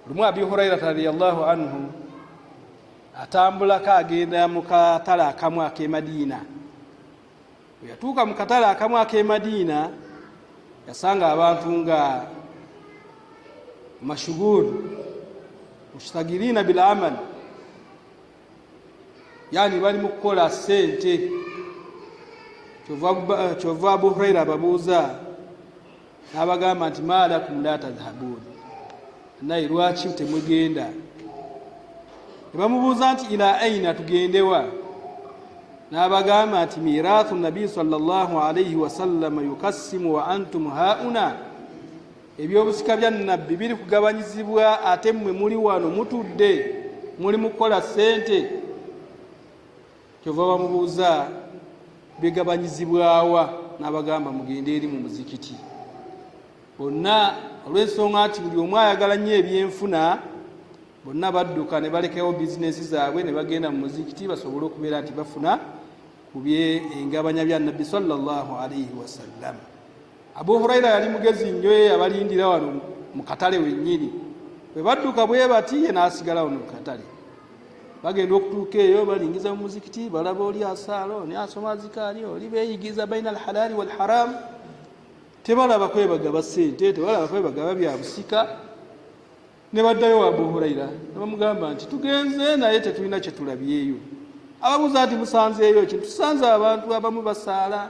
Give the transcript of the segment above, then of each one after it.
lumu abi hurairata radiallahu anhu atambulako agenda mu katale akamu akemadiina weyatuuka mu katale akamu akemadiina yasanga abantu nga mashugul mushtagirina bil amal yani bali mu kukola sente kyova abu huraira ababuuza n'abagamba nti maalakum la tadhabuun naye lwaki temugenda ne bamubuuza nti ila aina tugendewa n'abagamba nti mirathu nabi salllah alaihi wasallama yukassimu wa antum hauna ebyobusika bya nabbi biri kugabanyizibwa ate mmwe muli wano mutudde muli mukukola ssente kyova bamubuuza bigabanyizibwawa n'abagamba mugende eri mu muzikiti bonna olw'ensonga nti buli omu ayagala nnyo ebyenfuna bonna badduka ne balekewo bizinesi zaabwe ne bagenda mu muzikiti basobole okubeera nti bafuna ku bye engabanya bya nabbi salllah alaihi wasallam abu huraira yali mugezi nnyo ye yabalindira wano mu katale wennyini bwe badduka bwe bati ye n'asigala wano mu katale bagenda okutuuka eyo balingiza mu muzikiti balaba oli asaala oni asoma azikaali oli beyigiza baina alhalaali walharam tebalaba kwebagaba sente tebalaba kwebagaba byabusika nebaddayo wa abu huraira nebamugamba nti tugenze naye tetulina kyetulabyeyo ababuuza nti musanzeeyo ki tusanze abantu abamu basaala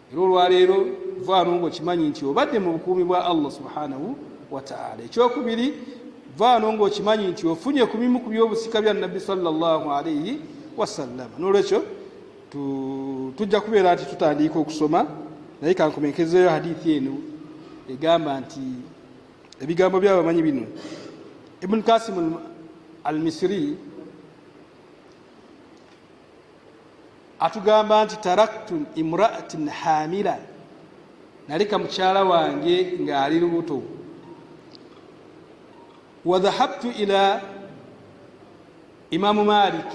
era olwaleero vaano ngaokimanyi nti obadde mu bukuumi bwa allah subhanahu wataala ekyokubiri vaano ngaokimanyi nti ofunye ku bimu ku byobusika bya nabbi salllah alaihi wasallama nolwekyo tujja kubeera nti tutandiika okusoma naye kankomenkezeyo hadithi eno egamba nti ebigambo byabamanyi bino ibuni kasimu almisiri atugamba nti taraktu imraatin hamila naleka mukyala wange ng'ali lubuto wadhahabtu ila imamu malik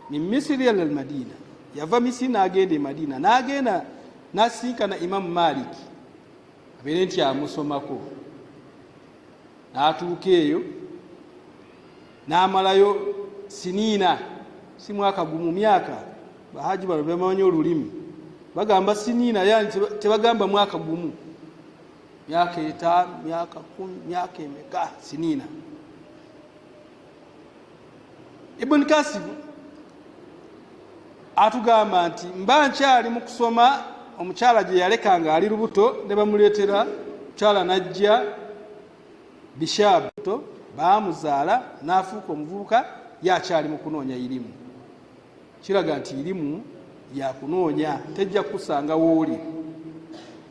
min misiri ala lmadina yava misiri n'agenda e madina n'agenda nasinkana imamu malik abeere nti amusomako n'atuuka eyo n'amalayo siniina si mwaka gumu myaka bahaji bano bebamanyi olulimi bagamba siniina yani tebagamba mwaka gumu myaka etaano myaka kumi myaka emeka siniina ibuni kasimu atugamba nti mba nkyali mu kusoma omukyala gye yaleka ng'ali lubuto ne bamuleetera mukyala n'ajja Bishab to baamuzaala n'afuuka omuvubuka ye akyali mu kunoonya irimu. Kiraga nti irimu yakunoonya tejja kukusanga wooli.